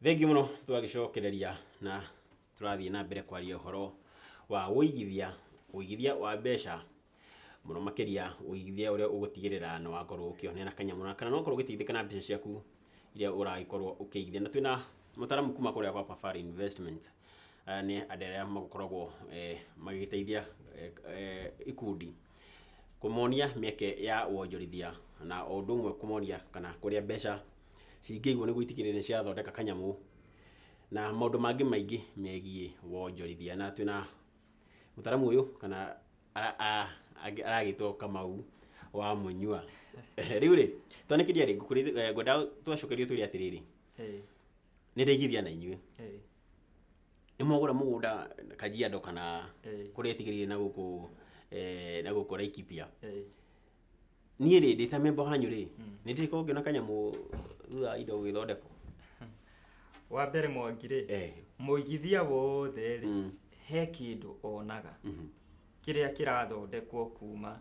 Thengiũ mũno tũgagĩcokereria na Tũrathiĩ na mbere kwaria ũhoro wa ũigithia, ũigithia wa mbeca, mũno makĩria ũigithia ũrĩa ũgũtigĩrĩra nĩ wakorwo ũkĩhũthĩra kanyamũ gaka, na ũgakorwo ũgĩteithĩka na mbeca ciaku iria ũragĩkorwo ũkĩigithia. Na twĩna mũtaaramu kuma kũrĩa gwa Safari Investments, aya nĩ andũ arĩa makoragwo magĩgĩteithia ikundi kũmonia mĩeke ya wonjorithia, na o ũndũ ũmwe kũmonia kana kũrĩa mbeca cingĩigwo nĩguo itigĩrĩre nĩ ciathondeka kanyamũ na maũndũ mangĩ maingĩ megiĩ wonjorithia. Na twĩna mũtaramu ũyũ kana aragĩtwo Kamau wa Mũnyua. Rĩu rĩ, twone kĩria rĩ, eh, ngwenda twacokerio twĩre atĩrĩrĩ, nĩ ndaigithia na inyuĩ nĩ mwagũra mũgũnda Kajiado kana kũrĩa ĩtigĩrĩire na gũkũ eh, na gũkũ Laikipia Niĩ rĩ, ndĩ ta memba wanyu rĩ, nĩ ndĩrĩkorwo ngĩona kanyamũ thutha wa indo gũgĩthondekwo? Wa mbere Mwangi rĩ, Eh. mũigithia wothe rĩ, Mm. he kĩndũ onaga Mhm. kĩrĩa kĩrathondekwo kuma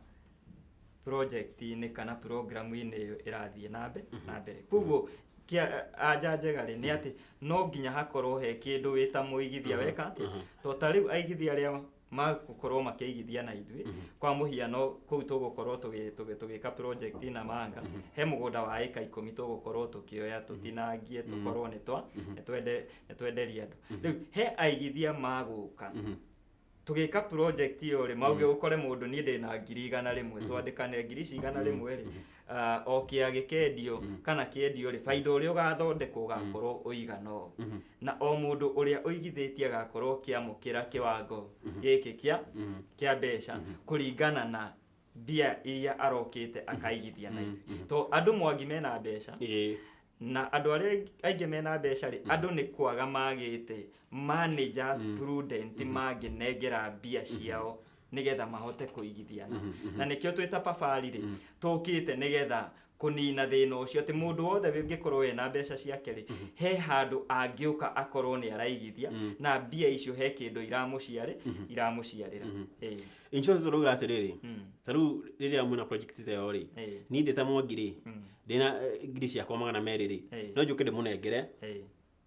project-inĩ kana program-inĩ ĩyo ĩrathiĩ na mbe- na mbere koguo kĩa- anja njega rĩ nĩ atĩ no nginya hakorwo he kĩndũ wĩ ta mũigithia weka atĩ to ta rĩu aigithia arĩa magũkorwo makĩigithia na ithuĩ kwa mũhiano kũu tũgũkorwo tũgĩ- tũgĩ- tũgĩka project na manga he mũgũnda wa ĩka ikũmi tũgũkorwo tũkĩoya tũtinangie tũkorwo nĩ twa nĩ twende- nĩ twenderia andũ rĩu he aigithia magũka tũgĩka project ĩyo rĩ mauge ũkore mũndũ niĩ ndĩna ngiri igana rĩmwe twandĩkane ngiri ici igana rĩmwe rĩ Ah, o kĩa gĩkendio kana kĩendio rĩ baida ũrĩa ũgathondekwo ũgakorwo ũigana ũũ na o mũndũ ũrĩa ũigithĩtie agakorwo kĩamũkĩra kĩwango gĩkĩ kĩa kĩa mbeca kũringana na mbia iria arokĩte akaigithia na ithuĩ to andũ mwangi mena mbeca Ĩĩ. na andũ arĩa aingĩ mena mbeca rĩ andũ nĩ kwaga magĩte managers prudent mangĩnengera mbia ciao nĩgetha mahote kũigithiana na nĩkĩo twĩ ta pabari rĩ tũkĩte nĩgetha kũnina thĩna ũcio atĩ mũndũ wothe ũngĩkorwo ena mbeca ciake rĩ he handũ angĩũka akorwo nĩ araigithia na mbia icio he kĩndũ iramũciarĩ iramũciarĩra Ĩĩ. in short tũrauga atĩrĩrĩ ta rĩu rĩrĩa mwĩna project ta ĩyo rĩ Ĩĩ. niĩ ndĩ ta mwangi rĩ ndĩna eh, ngiri ciakwa magana merĩ rĩ Ĩĩ. no njũke ndĩmũnengere Ĩĩ.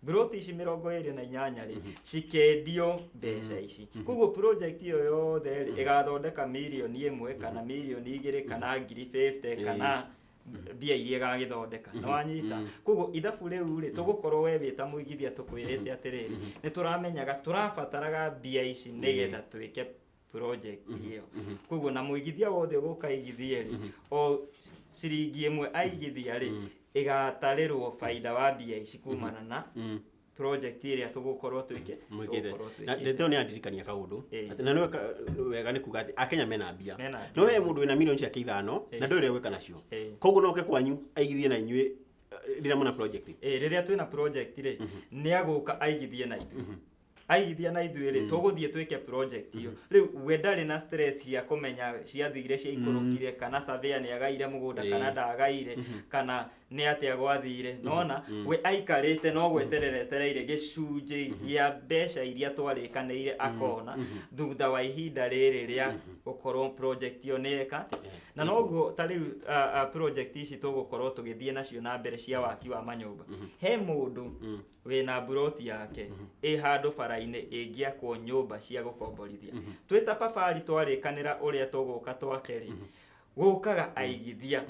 Buroti ici mĩrongo ĩrĩ na inyanya rĩ cikendio mbeca ici koguo project ĩyo yothe rĩ ĩgathondeka mirioni ĩmwe kana mirioni igĩrĩ kana ngiri 50 kana mbia iria ĩgagĩthondeka nĩ wanyita koguo ithabu rĩu rĩ tũgũkorwo we wĩ ta mũigithia tũkwĩrĩte atĩrĩrĩ nĩ tũramenyaga tũrabataraga mbia ici nĩgetha twĩke project ĩyo koguo na mũigithia wothe ũgũka igithia rĩ o ciringi ĩmwe aigithia rĩ ĩgatarĩrwo baida wa mbia ici kumana na Mm. project ĩrĩa tũgũkorwo twĩke mwĩkĩte tũgũkorwo na twĩkĩte. ndetwo nĩ andirikania kaũndũ Ĩĩ. Atĩ na nĩ weka- wega nĩ kuga atĩ akenya mena mbia Mena mbia. no we mũndũ wĩna mirioni ciake ithano Ĩĩ. na ndũĩ ũrĩa gwĩka nacio Ĩĩ. koguo noke kwanyu aigithie na inyuĩ eh, rĩrĩa mũna project Ĩĩ, rĩrĩa twĩna project rĩ nĩ agũka aigithie na ithuĩ aigithia na ithuĩ rĩ tũgũthiĩ twĩke project iyo rĩu we ndarĩ na stress ya kũmenya ciathire cia ikũrũkire kana surveyor nĩ agaire mũgũnda Ĩĩ. kana ndagaire kana nĩ atĩa gwathire nona we aikarĩte no gweterera etereire gĩcunjĩ gĩa mbeca iria twarĩkanĩire akona thutha wa ihinda rĩrĩ rĩa gũkorwo project iyo nĩ eka na noguo ta rĩu ah, ah, project ici tũgũkorwo tũgĩthiĩ nacio na mbere cia waki wa manyũmba he mũndũ wĩna mburoti yake ĩ handũ bara-inĩ ĩngĩakwo nyũmba cia gũkomborithia twĩ ta pabari twarĩkanĩra ũrĩa tũgũka twake-rĩ gũkaga aigithia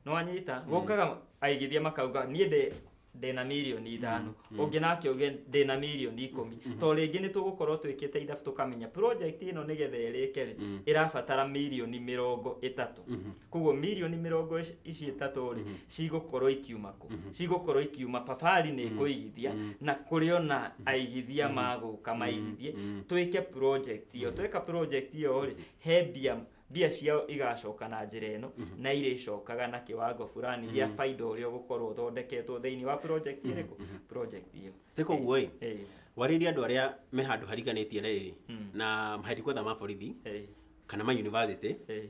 nĩwanyita gũkaga aigithia makauga niĩ ndĩ ndĩna mirioni ithano ũngĩ nake uge ndĩna mirioni ikũmi to rĩngĩ nĩ tũgũkorwo twĩkĩte ithabu tũkamenya project ĩno nĩgetha ĩrĩke-rĩ ĩrabatara mirioni mĩrongo ĩtatũ koguo mirioni mĩrongo ici- ici ĩtatũ rĩ cigũkorwo ikiuma kũ cigũkorwo ikiuma pabari nĩ ĩkũigithia na kũrĩ ona aigithia magũka maigithie twĩke project ĩyo tweka project ĩyo rĩ he mbia mbia ciao igacoka na njĩra ĩno na irĩcokaga na kĩwango fulani gĩa baida ũrĩa ũgũkorwo ũthondeketwo thĩinĩ wa project ĩrĩkũ project ĩyo Nĩ koguo ĩ Eh, warĩria andũ arĩa me handũ hariganĩtie rĩrĩ na maheadquarter ma borithi eh, kana ma university eh,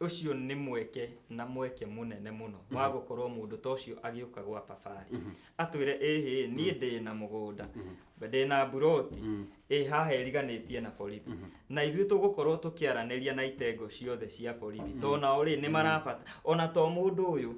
ũcio nĩ mweke na mweke mũnene mũno wa mhm. gũkorwo mũndũ ta ũcio agĩũka gwa babarĩ mhm. atwĩre ĩhĩ niĩ mhm. ndĩ na mũgũnda ndĩ na mburoti ĩ haha ĩriganĩtie na borithi na ithuĩ tũgũkorwo tũkĩaranĩria na itengo ciothe cia borithi tondũ nao rĩ nĩ marabata ona to mũndũ ũyũ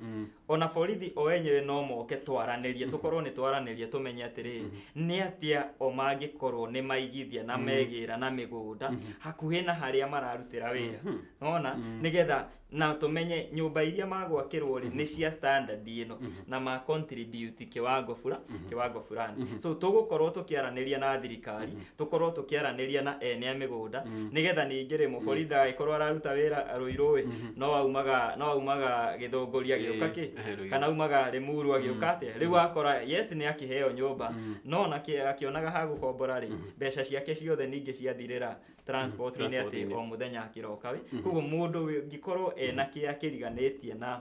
ona borithi o enyewe no moke twaranĩrie tũkorwo nĩ twaranĩrie tũmenye atĩrĩrĩ nĩ atĩa o mangĩkorwo nĩ maigithia na megĩra na mĩgũnda hakuhĩ na harĩa mararutĩra wĩra nona nĩgetha na tũmenye nyũmba iria magwakĩrwo rĩ nĩ cia standard ĩno na ma contribute kiwango fula kiwango fulani so tũgũkorwo tũkĩaranĩria na thirikari tũkorwo tũkĩaranĩria na ene a mĩgũnda Mm. nĩgetha ningĩ rĩ mũborithi ndagagĩkorwo araruta wĩra rũirũ ĩ Mhm. no aumaga no aumaga gĩthũngũria gĩũka kĩ Eh, eh, Rũirũ. kana aumaga rĩmuru agĩũka atĩa rĩu akora yes nĩ akĩheo nyũmba Mm. no na kĩ- akĩonaga ha gũkombora rĩ mbeca ciake ciothe ningĩ ciathirĩra transportinĩ atĩ Transportinĩ. o mũthenya akĩroka wĩ koguo mũndũ wĩ- ũngĩkorwo ena kĩrĩa kĩriganĩtie na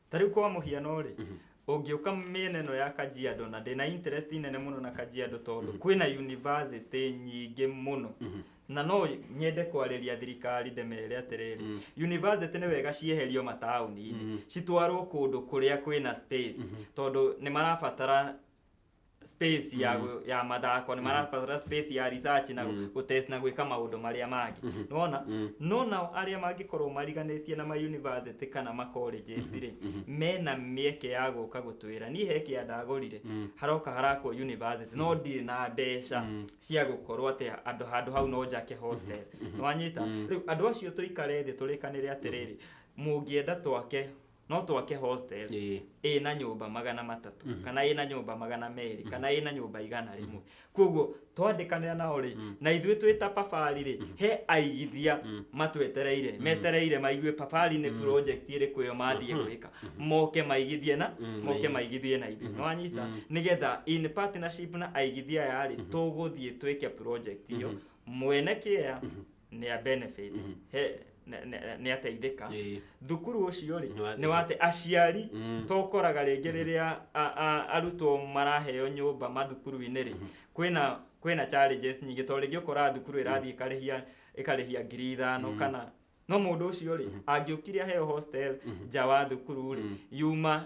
ta rĩu kwa mũhiano rĩ ũngĩũka mĩena ĩno ya kajiado na ndĩna interest nene mũno na kajiado tondũ kwĩna university nyingĩ mũno na no nyende kwarĩria thirikari ndĩmere atĩrĩrĩ university nĩ wega cieherio mataũni-inĩ citwarwo kũndũ kũrĩa kwĩna space tondũ nĩ marabatara space mm. ya, gũ- ya mathako nĩ marabatara space ya research na mm. gũtest na gwĩka maũndũ marĩa mangĩ mm. nona mm. no nao arĩa mangĩkorwo mariganĩtie na ma university kana ma colleges rĩ mena mĩeke ya gũka gũtwĩra niĩ he kĩa ndagũrire mm. haroka harakwo university no ndirĩ na mbeca mm. cia gũkorwo atĩ andũ handũ hau no njake hostel nĩwanyita rĩu andũ acio tũikare thĩ tũrĩkanĩre atĩrĩrĩ mũngĩenda twake no twake hostel Ĩĩ. ĩ na nyũmba magana matatũ mm -hmm. kana ĩ na nyũmba magana merĩ mm -hmm. kana ĩ na nyũmba igana rĩmwe mm -hmm. koguo twandĩkanĩra nao rĩ mm -hmm. na ithuĩ twĩ ta pabari rĩ mm -hmm. he aigithia mm -hmm. matwetereire mm -hmm. metereire maigue pabari nĩ mm -hmm. project ĩrĩkũ ĩyo mathiĩ mm -hmm. gwĩka mm -hmm. moke maigithie na mm -hmm. moke maigithie na ithuĩ mm -hmm. wanyita mm -hmm. nĩgetha in partnership na aigithia aya rĩ mm -hmm. tũgũthiĩ twĩke project iyo mm -hmm. mwene kĩea mm -hmm nä benefit Mhm. he nä ateithĩka Ĩĩ. thukuru ũcio rĩ Nĩ wa- nĩ wate aciari Mm. to ũkoraga rĩngĩ rĩrĩa a- a- arutwo maraheo nyũmba mathukuru-inĩ rĩ kwĩna kwĩna challenges nyingĩ to rĩngĩ ũkoraga thukuru ĩrathiĩ ĩkarĩhia ĩkarĩhia ngiri ithano kana no mũndũ ũcio rĩ angĩũkire aheo hostel nja wa thukuru rĩ yuma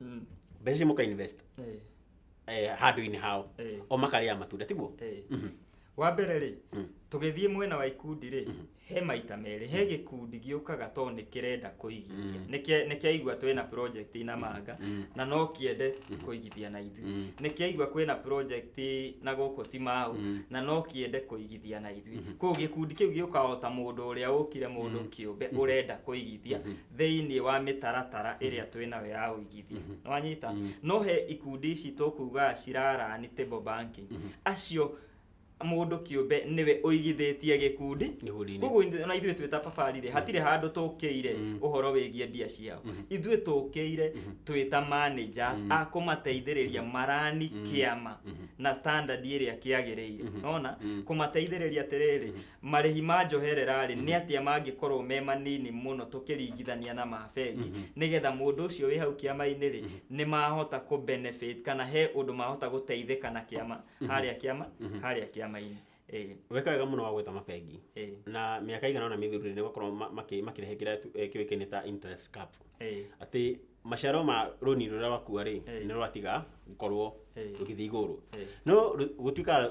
Mm. mbeca icio mũka invest Eh. eh, handũ-inĩ hao Eh. o makarĩa matunda tiguo Eh. wa mbere rĩ tũgĩthiĩ mwena wa ikundi rĩ he maita merĩ he gĩkundi gĩũkaga to nĩ kĩrenda kũigithia Nĩ kĩa- nĩ kĩaigua twĩ na project ina manga na no kĩende kũigithia na ithuĩ nĩ kĩaigua kwĩ na project na gũkũ ti mau na no kĩende kũigithia na ithuĩ kũu gĩkundi kĩu gĩũkaga o ta mũndũ ũrĩa ũkire mũndũ kĩũmbe ũrenda kũigithia thĩinĩ wa mĩtaratara mm. ĩrĩa twĩ nayo ya ũigithia mm-hmm. nĩ wanyita mm-hmm. no he ikundi ici tũkuga cirara ni table banking mm-hmm. acio mundu kiumbe niwe uigithitie gikundi koguo ona ithuĩ twĩ ta babarire hatirĩ handũ tũkĩire mm. ũhoro wĩgiĩ mbia ciao mm-hmm. ithuĩ tũkĩire mm-hmm. twĩ ta managers mm. a kũmateithĩrĩria mm-hmm. marani kĩama na standard ĩrĩa kĩagĩrĩire nona kũmateithĩrĩria atĩrĩrĩ marĩhi ma njoherera-rĩ nĩ atĩa mangĩkorwo me manini mũno tũkĩringithania na ma bengi nĩgetha mũndũ ũcio wĩ hau kĩama-inĩ-rĩ nĩ mahota kũ benefit kana he ũndũ mahota gũteithĩka na kĩama harĩa kĩama harĩa kĩama-inĩ Ĩĩ, weka wega mũno wa gwetha mabengi ĩĩ, na mĩaka ĩigana ona mĩthiru nĩ gũkorwo ma- makĩ- makĩrehe kĩrĩa tu- eh, kĩũĩkaine ta interest cap ĩĩ, atĩ maciaro ma rũni rũrĩa wakua rĩ Ĩĩ. nĩ rwatiga gũkorwo Ĩĩ. rũgĩthiĩ igũrũ Ĩĩ. no rũ- gũtuĩka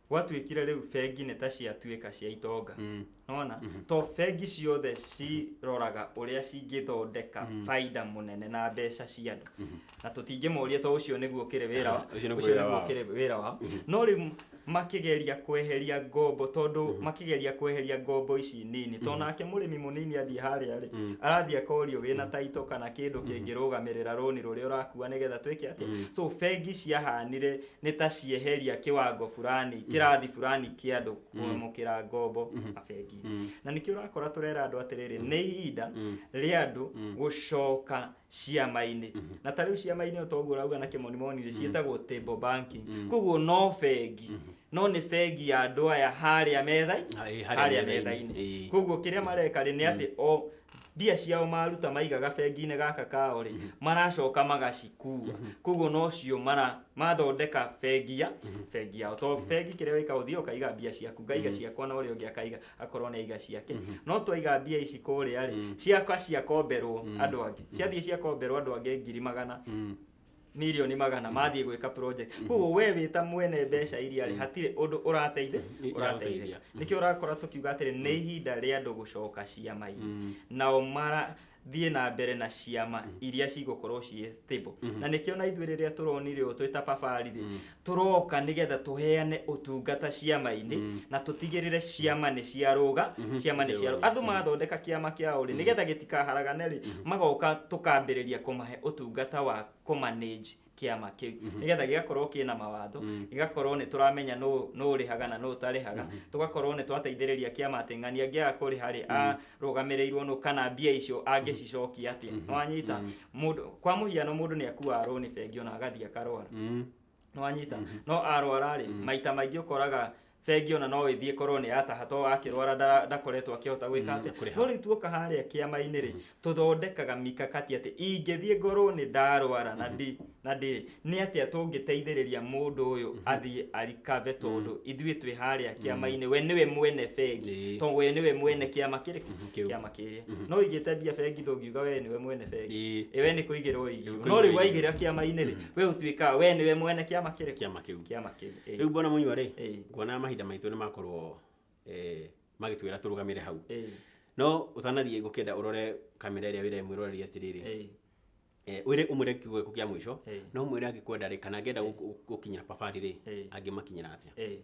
gwatuĩkire rĩu bengi nĩ ta ciatuĩka cia itonga Mm. nona to bengi ciothe ciroraga ũrĩa cingĩthondeka baida mũnene na mbeca cia andũ na tũtingĩmoria to ũcio nĩguo ũkĩrĩ wĩra wa- Ũcio nĩguo ũcio wĩra nĩguo wao. ũkĩrĩ wĩra wao no rĩu makĩgeria kweheria ngombo tondũ makĩgeria kweheria ngombo ici nini to nake mũrĩmi mũnini athiĩ harĩa rĩ arathiĩ akorio wĩna taito kana kĩndũ kĩngĩrũgamĩrĩra rũni rũrĩa ũrakua nĩgetha twĩke atĩ so bengi ciahanire nĩ ta cieheria kĩwango fulani mm. kĩrathi fulani kĩa andũ mm. kwamũkĩra ngombo mm-hmm. mabengi mm. na nĩkĩo ũrakora tũrera andũ atĩrĩrĩ nĩ ihinda rĩa andũ gũcoka ciama-inĩ mm-hmm. na ta rĩu ciama-inĩ o toguo ũrauga na kĩmonimoni rĩ ciĩtagwo table banking koguo no bengi mm-hmm. no nĩ bengi ya andũ aya harĩa metha harĩa metha-inĩ koguo kĩrĩa mareka rĩ nĩ atĩ o mbia ciao maruta maigaga bengi-inĩ gaka kao rĩ maracoka magacikua koguo nocio mara mathondeka bengi ya bengi yao to bengi kĩrĩa wĩkaga ũthiaga ũkaiga mbia ciaku ngaiga ciakwa na ũrĩa ũngĩ akaiga akorwo nĩ aiga ciake no twaiga mbia ici kũrĩa rĩ ciaka ciakomberwo andũ angĩ ciathiĩ ciakomberwo andũ angĩ ngiri magana mirioni magana mathiĩ gwĩka project koguo we wĩ ta mwene mbeca iria rĩ hatirĩ ũndũ ũrateithia Irateithia. ũrateithia nĩkĩo ũrakora tũkiuga atĩrĩ nĩ ihinda rĩa andũ gũcoka ciama-inĩ nao marathiĩ na mbere na ciama iria cigũkorwo ciĩ stable na nĩkĩo na ithuĩ rĩrĩa tũronire ũũ twĩ ta pabarĩ rĩ tũroka nĩgetha tũheane ũtungata ciama-inĩ mm. na tũtigĩrĩre ciama nĩ ciarũga mm -hmm. ciama nĩ ciarũga andũ mm-hmm. mathondeka kĩama kĩao rĩ mm. nĩgetha gĩtikaharagane rĩ mm -hmm. magoka tũkambĩrĩria kũmahe ũtungata wa kũmanage kiama kiu mhm. nigetha gigakorwo kina mawatho mhm. gigakorwo ni turamenya no no rihaga na no tarihaga mhm. tugakorwo ni twateithiriria kiama ating'ania ngiaga kuriha ri a rũgamĩrĩirwo nũ kana mbia icio angĩcicokia atĩa Mhm. nĩwanyita Mhm. mũndũ kwa mũhiano mũndũ nĩ akuaga rũni bengi ona agathiĩ akarwara Mm. nĩwanyita no arwara rĩ maita maingĩ ũkoraga bengi ona no ĩthiĩ korwo nĩ yataha to akĩrwara ndara- ndakoretwo akĩhota gwĩka Mm, atĩ kũrĩha. no rĩu tuoka harĩa kĩama-inĩ rĩ tũthondekaga mikakati atĩ ingĩthiĩ ngorwo nĩ ndarwara na ndi Na ndĩ, nĩ atĩa tũngĩteithĩrĩria mũndũ ũyũ athiĩ arikave tondũ ithuĩ twĩ harĩa kĩama-inĩ we nĩwe mwene bengi Ĩĩ. tondũ we nĩwe mwene kĩama kĩrĩ Kĩu. kĩama kĩrĩa no ũigĩte mbia bengi ndũngiuga we nĩwe mwene bengi Ĩĩ. Ĩ, we nĩ kũigĩrwo ũigĩirwo Kũigĩrwo no rĩu ũigĩirwo. waigĩra kĩama-inĩ rĩ we ũtuĩkaga we nĩwe mwene kĩama kĩrĩ kĩama kĩu kĩama kĩu Ĩĩ. rĩu bwana mũnyua rĩ Ĩĩ. nguona mahinda maitũ nĩ makorwo eh, magĩtwĩra tũrũgamĩre hau Ĩĩ. no ũtanathiĩ ngũkĩenda ũrore kamera ĩrĩa wĩra mwĩroreria atĩrĩrĩ Ĩĩ. Eh, wĩre ũmwĩre kiugo gĩaku kĩa mũico Eh. no mwĩre angĩkwenda rĩ kana angĩenda gũkũ- gũkinyĩra pabari rĩ Eh. angĩmakinyĩra atĩa Eh.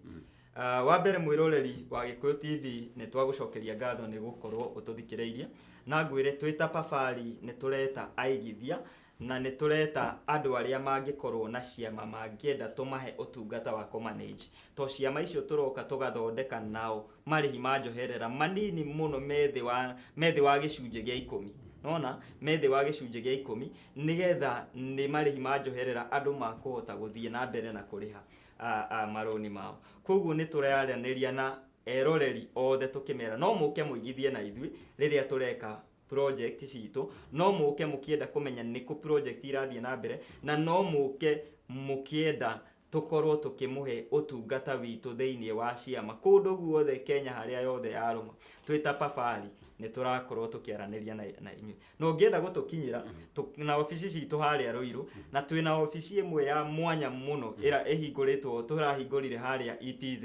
Ah, wa mbere mwĩroreri wa gĩkũyũ tv nĩ twagũcokeria ngatho nĩ gũkorwo ũtũthikĩrĩirie na ngwĩre twĩ ta pabari nĩ tũreta aigithia na nĩ tũreta andũ arĩa mangĩkorwo na ciama mangĩenda tũmahe ũtungata wa kũmanage to ciama icio tũroka tũgathondeka nao marĩhi ma njoherera manini mũno methĩ wa methĩ wa gĩcunjĩ gĩa ikũmi nona methĩ wa gĩcunjĩ gĩa ikũmi nĩgetha nĩ marĩhi ma njoherera andũ makũhota gũthiĩ na mbere na kũrĩha a, a, marũni mao koguo nĩ tũraranĩria na eroreri othe tũkĩmera no mũke mũigithie na ithuĩ rĩrĩa tũreka project citũ no mũke mũkĩenda kũmenya nĩkũ project irathiĩ na mbere na no mũke mũkĩenda tũkorwo tũkĩmũhe ũtungata witũ thĩinĩ wa ciama kũndũ guothe Kenya harĩa yothe yarũma twĩ ta Pafari nĩ tũrakorwo tũkĩaranĩria na, na inyuĩ na ũngĩenda gũtũkinyĩra tũ- na obici citũ harĩa Rũirũ na twĩ na obici ĩmwe ya mwanya mũno ĩra ĩhingũrĩtwo tũrahingũrire harĩa ETZ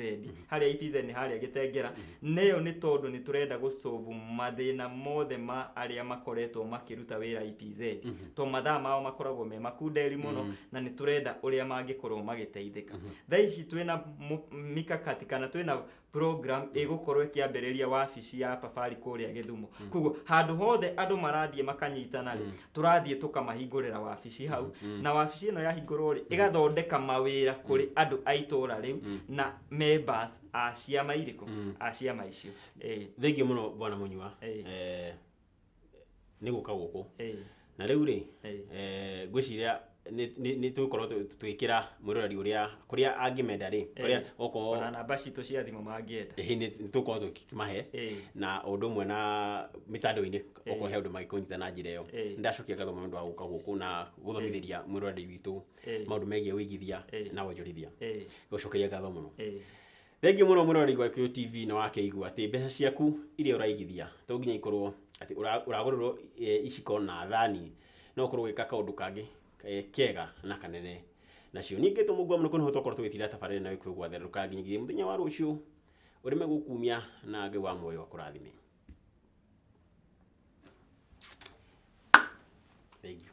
harĩa itizen harĩa gĩtengera mm-hmm. neyo nĩ tondũ nĩ tũrenda gũcovu mathĩna mothe ma arĩa makoretwo makĩruta wĩra itz e mm -hmm. to mathaa mao makoragwo me makunderi mũno mm -hmm. na nĩ tũrenda ũrĩa mangĩkorwo magĩteithĩka mm -hmm. thaa ici twĩna mikakati kana twĩna program mm-hmm. ĩgũkorwo ĩkĩambĩrĩria wabici ya pabari kũrĩa gĩthumo mm -hmm. koguo handũ hothe andũ marathiĩ makanyitana rĩ mm tũrathiĩ tũkamahingũrĩra wabici hau mm. na wabici ĩno yahingũrwo rĩ mm. ĩgathondeka mawĩra kũrĩ mm. andũ a itũra rĩu mm. na members a ciama irĩkũ mm. a ciama icio eh. thengiũ mũno bwana mũnyua eh. eh, nĩ gũka gũkũ eh. na rĩu rĩ eh. eh, ngwĩciria nĩ- nĩ nĩ tũgũkorwo tũ- tũgĩkĩra mwĩroreri ũrĩa kũrĩa angĩmenda rĩ kũrĩa Eh, okorwo ona namba citũ cia thimũ mangĩenda ĩhĩ nĩ nĩ tũgũkorwo tũkĩmahe Eh. na o ũndũ ũmwe na mĩtandao-inĩ okorwo he ũndũ mangĩkũnyita na njĩra ĩyo Eh. nĩ ndacokia ngatho mũno nĩ ũndũ wa gũka gũkũ na gũthomithĩria mwĩroreri witũ Eh. maũndũ megiĩ ũigithia Eh. na wonjorithia Eh. gũcokeria ngatho mũno Eh. Thengiũ mũno mwĩroreri wa Gĩkũyũ TV nĩ wakĩigua atĩ mbeca ciaku iria ũraigithia to nginya ikorwo atĩ ũragũrĩrwo iciko na thani, no ũkorwo ũgĩka kaũndũ kangĩ kega na kanene nacio. Niĩ ngĩtwo mũkwa mũno nĩ twakoragwo tũgĩtinda tabarĩra ĩno ya Gĩkũyũ gwatherũka nginyagia mũthenya wa rũciũ, ũrĩme gũkumia na Ngai wa muoyo akũrathime. Thengiũ.